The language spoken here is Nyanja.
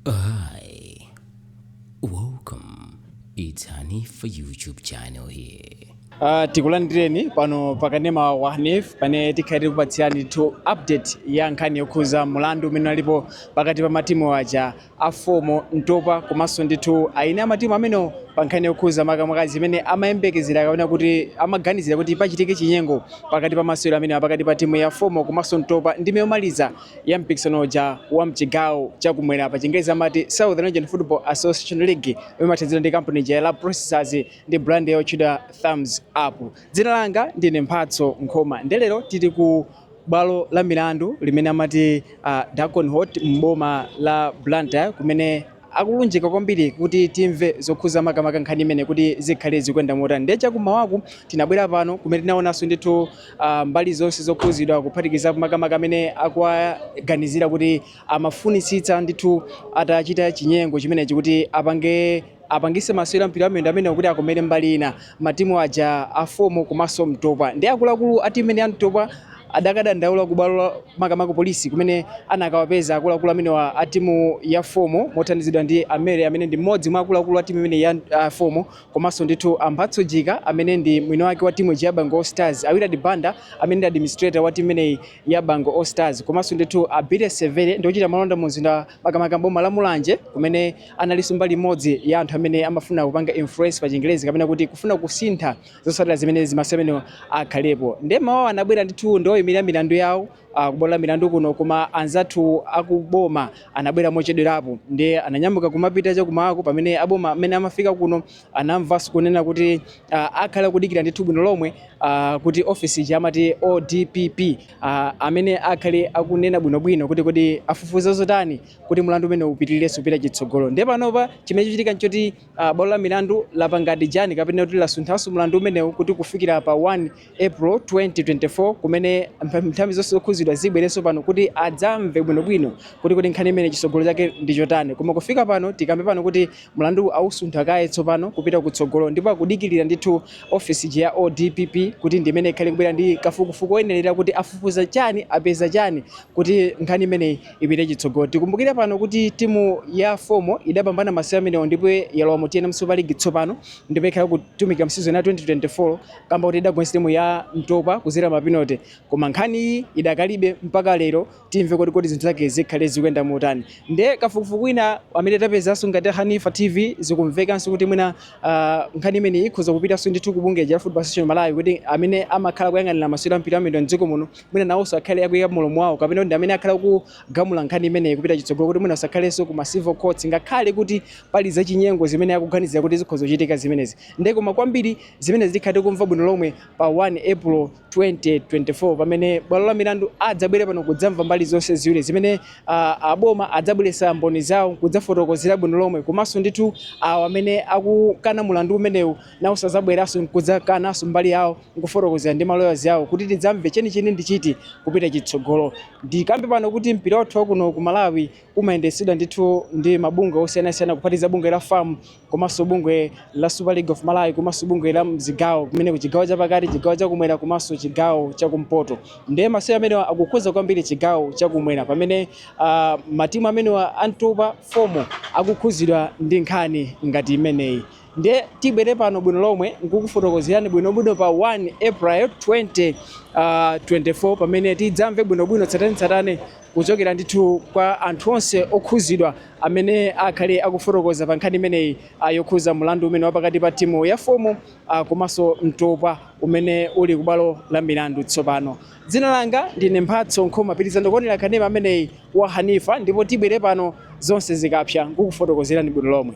Hi, welcome. It's Hanif YouTube channel here. Uh, tikulandireni pano pakanema wa Hanif pamene tikhale tikupatsirani ndithu update ya nkhani yokhuza mulandu umene ulipo pakati pa matimu aja a FOMO Ntopwa komanso ndithu eni ake a matimu amenewa pa nkhani yokhuza makamaka zimene amayembekezera kapena kuti amaganizira kuti pachitike chinyengo pakati pa masewero amenewa pakati pa timu ya FOMO komanso Ntopwa ndime yomaliza ya mpikisano uja wa mchigawo cha kumwera pa chingerezi amati Southern Region Football Association League imene imathandizidwa ndi kampani ija ya Rab Processors ndi brand yotchedwa Thumbs Up. Dzina langa ndine Mphatso Nkhoma. Nde lero tili ku bwalo la milandu limene amati uh, Dalton Court m'boma la Blantyre kumene akulunjika kwambiri kuti timve zokhuza makamaka nkhani imeneyi kuti zikhale zikuyenda motani ndiye chakumawaku tinabwera pano kumene tinaonanso ndithu uh, mbali zonse zokhuzidwa kuphatikizapo makamaka amene akuwaganizira kuti amafunitsitsa ndithu atachita chinyengo chimenechi kuti apangitse masewero a mpira wamiyendo amenewo kuti akomere mbali ina Matimu aja a FOMO komanso Ntopwa ndiye akuluakulu a timu imeneyi ya Ntopwa adakadandaula ku bwalo la makamaka polisi kumene anakawapeza akuluakulu amenewa a timu ya FOMO mothandizidwa ndi a Mary amene ndi mmodzi mwa akuluakulu a timu imeneyi ya uh, FOMO komanso ndithu a Mphatso Jika amene ndi mwini wake wa timu ija ya Bangwe All Stars, a Willard Banda amene ndi administrator wa timu imeneyi ya Bangwe All Stars komanso ndithu a Billy Severe ndi ochita malonda mu mzinda makamaka m'boma la Mulanje kumene analinso mbali imodzi ya anthu amene amafuna kupanga influence pa chingerezi kapena kuti kufuna kusintha zotsatira zimene za masewero amenewo akhalepo. Ndiye mmawawu anabwera ndithu ndi oyimirira milandu yawo ah, ku bwalo la milandu kuno, koma anzathu akuboma anabwera mochedwerapo, ndiye ananyamuka kumapita cha kumakwawo pamene aboma amenewa amafika kuno anamvanso kunena kuti ah, akhale akudikira ndithu bwino lomwe ah, kuti ofisi ija amati ODPP uh, amene akhale akunena bwinobwino kuti kodi afufuza zotani kuti mlandu umenewu upitirirenso kupita chitsogolo ndiye panopa chimene chachitika nchoti uh, bwalo la milandu lapanga adjourn kapena kuti lasunthanso mlandu umenewu kuti kufikira pa 1 april 2024 kumene nthambi zonse zokhuzidwa zibwerenso pano kuti adzamve bwinobwino kuti kodi nkhani imeneyi chitsogolo chake ndi chotani koma kufika pano tikambe pano kuti Mlanduwu awusuntha kaye tsopano kupita kutsogolo ndipo akudikilira ndithu ofesi ija ya ODPP kuti ndi imene ikhale ikubwera ndi kafukufuku oyenerera kuti afufuza chani, apeza chani kuti nkhani imeneyi ipite chitsogolo. Tikumbukire pano kuti timu ya FOMO idapambana masewero amenewo ndipo yalowa mu tnm Super League tsopano ndipo ikhale ikutumikira m'season ya 2024 kamba koti idagonjetsa timu ya Ntopwa kudzera mapenate koma nkhani iyi idakalibe mpaka lero timve kuti kodi zinthu zake zikhale zikuyenda motani nde kafukufuku wina amene tapezanso ngati a hanifa tv zikumvekanso kuti mwina ah, nkhani imeneyi ikhoza kupitanso ndithu ku bungwe la football association malawi kuti amene amakhala kuyang'anira masewero a mpira wamiyendo mdziko muno mwina nawonso akhale akuyika mlomo wawo kapena kuti ndi amene akhale akugamula nkhani imeneyi kupita chitsogolo kuti mwina usakhalenso ku ma civil courts ngakhale kuti pali zachinyengo zimene akuganizira kuti zikhoza kuchitika zimenezi nde koma kwambiri zimenezi tikhale tikumva bwino lomwe pa 1 april 2024 pamene bwalo la milandu adzabwere pano kudzamva mbali zonse ziwiri zimene uh, aboma adzabweretsa mboni zawo kudzafotokozera bwino lomwe komanso ndithu awo amene akukana mulandu umenewu nawonso adzabweranso nkudzakananso mbali yawo nkufotokozera ndi maloyaz awo kuti tidzamve chenicheni ndi chiti kupita chitsogolo ndikambe pano kuti mpira wathu wakuno ku malawi umayendetsedwa ndithu ndi mabungwe osiyanasiyana kuphatikiza bungwe la fam komanso bungwe la Super League of Malawi komanso bungwe la mzigawo kumene kuli chigawo chapakati, chigawo chakumwera komanso chigawo chakumpoto. Ndiye masewero amenewa akukhudza kwambiri chigawo chakumwera pamene uh, matimu amenewa a Ntopwa FOMO akukhudzidwa ndi nkhani ngati imeneyi. Nde tibwere pano bwino lomwe nkukufotokozerani bwinobwino pa 1 April 2024 pamene tidzamve bwinobwino tsatanetsatane kuchokera ndithu kwa anthu onse okhuzidwa amene akhale akufotokoza pa nkhani imeneyi yokhuza mlandu umene wapakati pa timu ya FOMO komanso Ntopwa umene uli ku bwalo la milandu tsopano. Dzina langa ndine Mphatso Nkhoma pitirizani kuonera kanema ameneyi wa Hanifa ndipo tibwere pano zonse zikapsa nkukufotokozerani bwino lomwe.